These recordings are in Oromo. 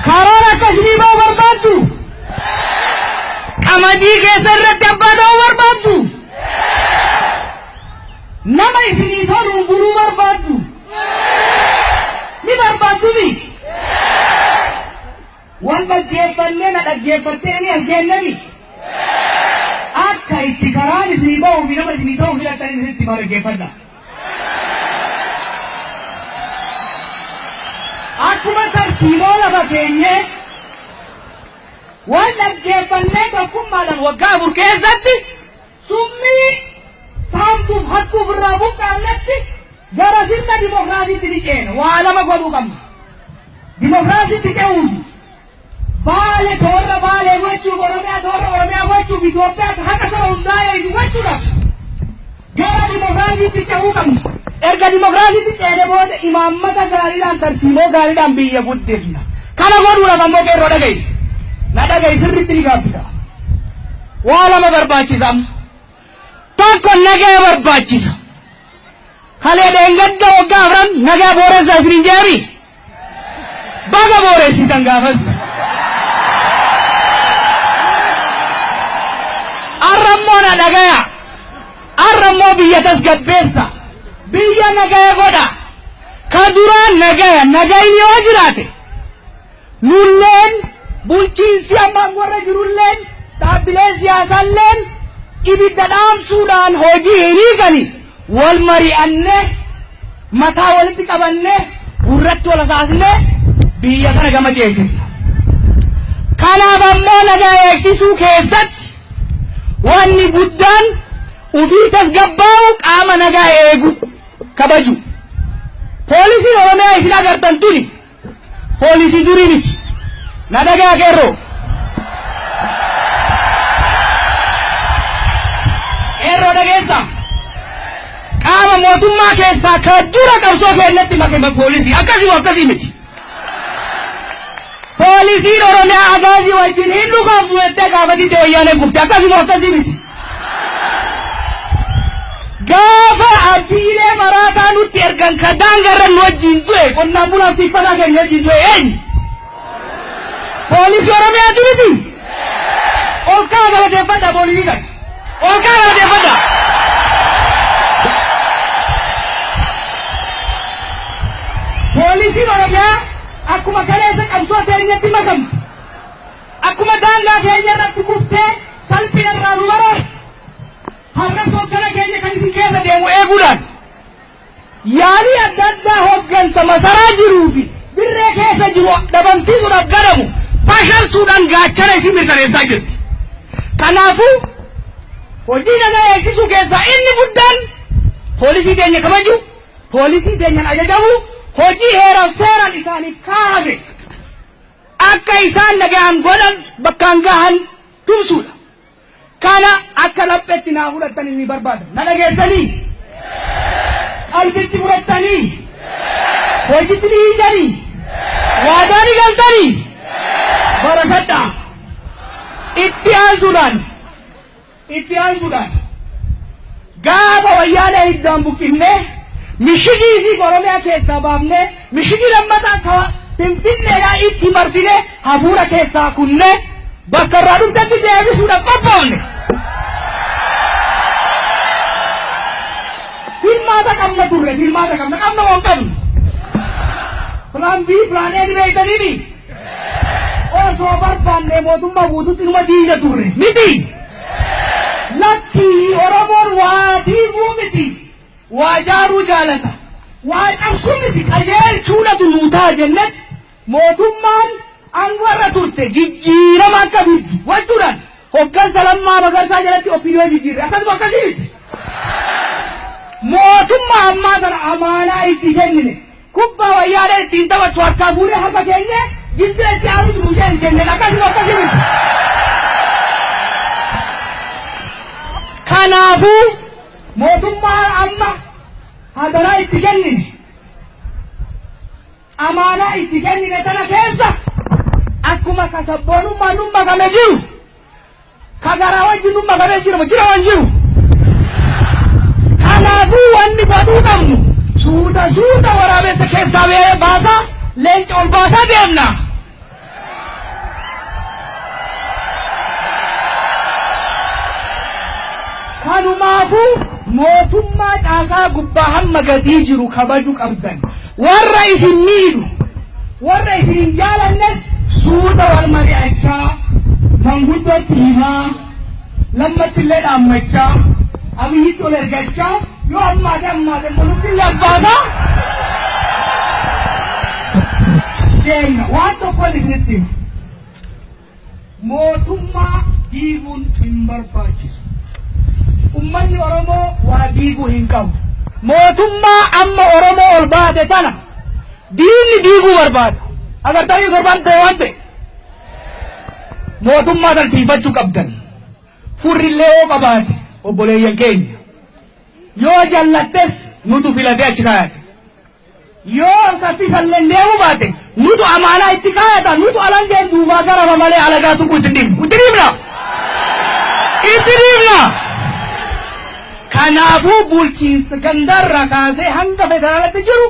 Karoora akkasii ba'u barbaaddu? Qamadii keessa irratti abbaa ta'uu barbaaddu? Nama isinii toluun buluu barbaaddu? Ni barbaaddu mi? Wal dhaggeeffannee na dhaggeeffattee ni as geenne mi? Akka itti karaan isinii ba'uu fi nama isinii ta'uu filattan isinitti hima dhaggeeffadha. Akkuma tarsiimoo lafa keenyee wal dhaggeeffannee tokkummaadhaan waggaa afur keessatti summii saamtuuf hattuuf irraa buqqaannetti gara sirna dimokiraasiitti ni ceena. Waa lama godhuu qabna. Dimokiraasiitti ce'uun Baale toora Baalee gochuuf, Oromiyaa toora Oromiyaa gochuuf, Itoophiyaa haqa saba hundaa eegu gochuudhaaf gara dimokiraasiitti cehuu qabna. Erga dimokiraasiitti ceene booda imaammata gaariidhaan, tarsiimoo gaariidhaan biyya guddifna. Kana godhuudhaaf ammoo qeerroo dhaga'i. Na dhaga'i sirriitti ni gaabbita. Waa lama barbaachisa amma. Tokko nagaya barbaachisa. Kalee dheengadda waggaa afran nagaya booressaa isiniin jeemi. Baga booressitan gaafas. Arra immoo na dhagaya. Arra immoo biyya tasgabbeessa. Biyya nagaya godha. Ka duraan nagaya nagayni yoo jiraate nulleen bulchiinsi ammaan warra jirulleen dhaabbileen siyaasaalleen ibidda dhaamsuudhaan hojii hin hiikani. Wal mari'annee, mataa walitti qabannee, gurratti wal hasaasnee biyya kana gama ceesifna. Kanaaf ammoo nagaa eegsisuu keessatti wanni guddaan ufii tasgabbaa'u qaama nagaa eegu kabaju. Poolisiin Oromiyaa isin agartan tuni Poolisii durii miti. Na dhaga'a qeerroo. Qeerroo dhageessa. Qaama mootummaa keessaa ka dura qabsoo keenyatti makame poolisii. Akkasii moo akkasii miti. Poolisiin Oromiyaa agaazii wajjin hin dhukaaftu jettee gaafa didde wayyaaneen kufte. Akkasii moo akkasii miti. Gaafa abdiilee maraataa nutti ergan ka daangarra nu wajjin du'e qonnaan bulaaf tikfataa keenya wajjin du'e eenyu? Poolisii Oromiyaa duriti? Ol kaa galateeffadha poolisii kana. Ol kaa galateeffadha. Poolisiin Oromiyaa akkuma kaleessa qabsoo teenyatti makamte. Akkuma daangaa keenya irratti kuftee salphina irraa nu baraarte, har'as hoggana keenya kan isin keessa deemu eeguudhaan yaalii adda addaa hoggansa masaraa jiruu fi dirree keessa jiru dhabamsiisuudhaaf godhamu fashalsuudhaan gaachana isin mirkaneessaa jirti. Kanaafuu hojii nagaa eegsisuu keessaa inni guddaan poolisii keenya kabaju, poolisii keenyaan ajajamu, hojii heeraaf seeraan isaaniif kaa'ame akka isaan dhaga'an godhan bakkaan gahan tumsuudha. Kana akka laphetti naa fudhattanii ni barbaada. Na dhageessanii? Qalbitti fudhattanii? Hojitti ni hiitanii? Waadaa ni galtanii? Barafadhaa. Itti aansuudhaan Itti aansuudhaan gaafa wayyaanee hiddaan buqqifnee mishigii isii ka Oromiyaa keessaa baafnee mishigii lammataa ka Finfinneedhaa itti marsinee hafuura keessaa kunnee bakka irraa dhuftetti deebisuudhaaf qophoofne. Filmaata qabna turre, filmaata qabna, qabna moo hin qabnu? Plan B, Plan A ni beektaniimi? Osoo barbaanne mootummaa guututti dhuma diina turre. Miti! Lakkii Oromoon waa diiguu miti waa jaaruu jaalata. Waa cabsuu miti qajeelchuudhatu nuu ta'a jennet mootummaan aangoo irra turte jijjiirama akka fiddu gochuudhaan hoggansa Lammaa Magarsaa jalatti OPDO jijjiirre. Akkasuma akkasii miti! Mootummaa ammaa kana amaanaa itti kennine. Kubbaa wayyaaneen ittiin taphattu harkaa fuunee harka keenyee gindee itti aanuutu nuu ceesi jenneen akkasii moo akkasii miti. Kanaafuu mootummaa amma hadaraa itti kennine amaanaa itti kennine tana keessa akkuma ka sabboonummaan nu makame jiru Ka garaa wajji dhumma badee jirama jira waan jiru. Kanaafuu wanni godhuu qabnu suuta suuta waraabessa keessaa bee- baasaa leenca ol baasaa deemna. Kanumaafuu mootummaa caasaa gubbaa hamma gadii jiru kabaju qabdan. Warra isin miidhu, warra isin hin jaalannes suuta wal mari'achaa, manguddootti himaa, Lammatti illee dhaammachaa, Abiyyitti ol ergachaa, yoo hammaate hammaate immoo nutti illee as baasaa deemna. Waan tokkon isinitti hima. Mootummaa diiguun hin barbaachisu. Ummanni Oromoo waa diiguu hin qabu. Mootummaa amma Oromoo ol baate tana diinni diiguu barbaada. Agartanii torbaan ta'e waan ta'e. Mootummaa tana tiifachuu qabdan. Furrillee yoo qabaate obboleeyyan keenya. Yoo jallattes nutu filatee achi kaayate. Yoo saffisa illeen deemuu baate nutu amaanaa itti kaayata, nutu alangeen duubaa garaba malee alagaa tuquu itti hin dhiifnu. Itti dhiifna? Itti dhiifna? Kanaafuu bulchiinsa gandaa irraa kaasee hanga federaalatti jiru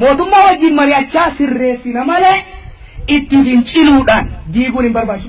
mootummaa wajjin mari'achaa sirreessina malee itti finciluudhaan diiguun hin barbaachisu.